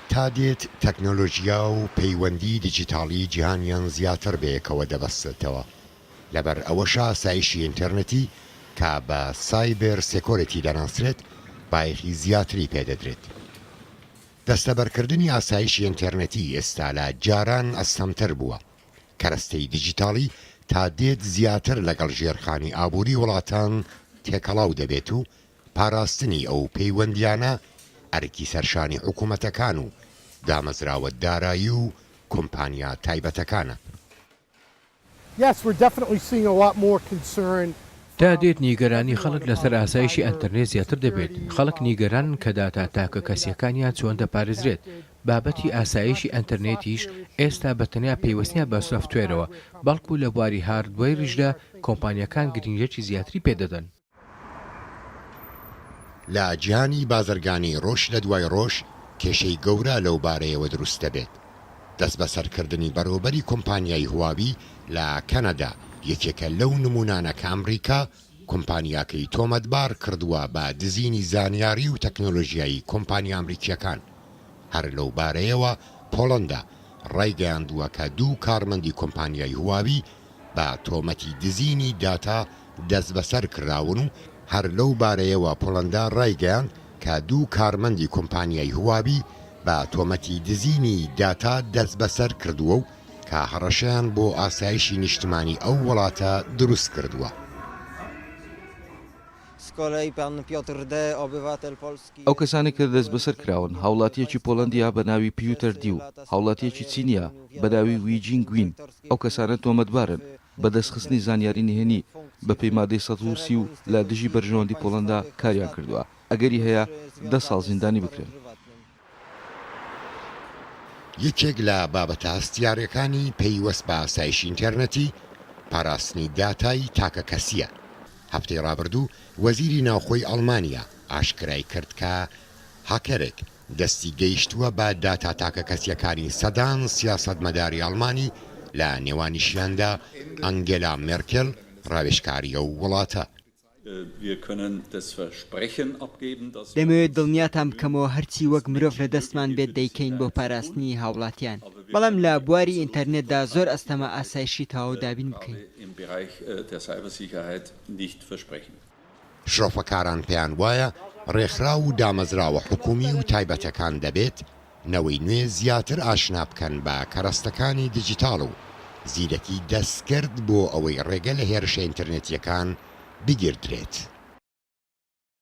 تا دێت تەکنۆلۆژیا و پەیوەندی دیجیتاڵی جیهانیان زیاتر بەیەکەوە دەبەستێتەوە، لەبەر ئەوەش ئاسایشی ئینتێرنێتی کە بە سایبێر سێکۆرێتی دەناسرێت بایەخی زیاتری پێ دەدرێت. دەستەبەرکردنی ئاسایشی ئینتێرنێتی ئێستا لە جاران ئەستەمتر بووە، کەرەستەی دیجیتاڵی تا دێت زیاتر لەگەڵ ژێرخانی ئابووری وڵاتان تێکەڵاو دەبێت و پاراستنی ئەو پەیوەندییانە ئەرکی سەرشانی حکومەتەکان و دامەزراوە دارایی و کۆمپانیا تایبەتەکانە. تا دێت نیگەرانی خەڵک لەسەر ئاسایشی ئەنتەرنێت زیاتر دەبێت، خەڵک نیگەرانن کە داتا تاکە کەسییەکانیان چۆن دەپارێزرێت، بابەتی ئاسایشی ئەنتەرنێتیش ئێستا بە تەنیا پەیوەست نییە بە سۆفتوێرەوە، بەڵکو لە بواری هاردوەیریشدا کۆمپانیاکان گرنگییەکی زیاتری پێدەدەن. لە جیهانی بازرگانی ڕۆژ لە دوای ڕۆژ کێشەی گەورە لەو بارەیەوە دروست دەبێت. دەستبەسەرکردنی بەڕێوبەری کۆمپانیای هواوی لە کەنەدا یەکێکە لەو نموونانە کە ئەمریکا کۆمپانیاکەی تۆمەتبار کردووە بە دزینی زانیاری و تەکنۆلۆژیای کۆمپانیا ئەمریکییەکان. هەر لەو بارەیەوە پۆڵەندا ڕایگەیاندووە کە دوو کارمەندی کۆمپانیای هواوی بە تۆمەتی دزینی داتا دەستبەسەر کراون و هەر لەو بارەیەوە پۆڵەندا رایگەیاند کە دوو کارمەندی کۆمپانیای هواوی بە تۆمەتی دزینی داتا دەستبەسەر کردووە و کە هەڕەشەیان بۆ ئاسایشی نیشتمانی ئەو وڵاتە دروست کردووە. ئەو کەسانەی کە دەستبەسەر کراون، هاوڵاتییەکی پۆڵەندییە بە ناوی پیوتەر دی و هاوڵاتییەکی چینییە بە ناوی وی جین گوین، ئەو کەسانە تۆمەتبارن بە دەستخستنی زانیاری نهێنی بەپێی مادەی سەد و سی و لە دژی بەرژەوەندی پۆڵەندا کاریان کردووە، ئەگەری هەیە دە ساڵ زیندانی بکرێن. یەکێک لە بابەتە هەستیارەکانی پەیوەست بە ئاسایشی ئینتێرنێتی، پاراستنی داتای تاکەکەسییە. هەفتەی ڕابردوو وەزیری ناوخۆی ئەڵمانیا، ئاشکرایکرد کە هاککەرێک دەستی گەیشتووە بە داتا تاکەکەسییەکانی سەدان سیاسەتمەداری ئەڵمانی، لە نێوانیشیاندا ئەنگێلا مێرکێل، ڕاوێژکاری ئەو وڵاتە. دەمەوێت دڵنیاتان بکەمەوە هەرچی وەک مرۆڤ لە دەستمان بێت دەیکەین بۆ پاراستنی هاوڵاتیان، بەڵام لە بواری ئینتەرنێتدا زۆر ئەستەمە ئاسایشی تەواو دابین بکەین. شرۆفەکاران پێیان وایە ڕێکخراو و دامەزراوە حکوومی و تایبەتەکان دەبێت نەوەی نوێ زیاتر ئاشنا بکەن بە کەرەستەکانی دیجیتاڵ و زیرەکی دەستکرد بۆ ئەوەی ڕێگە لە هێرشە ئینتەرنێتییەکان بگیردرێت.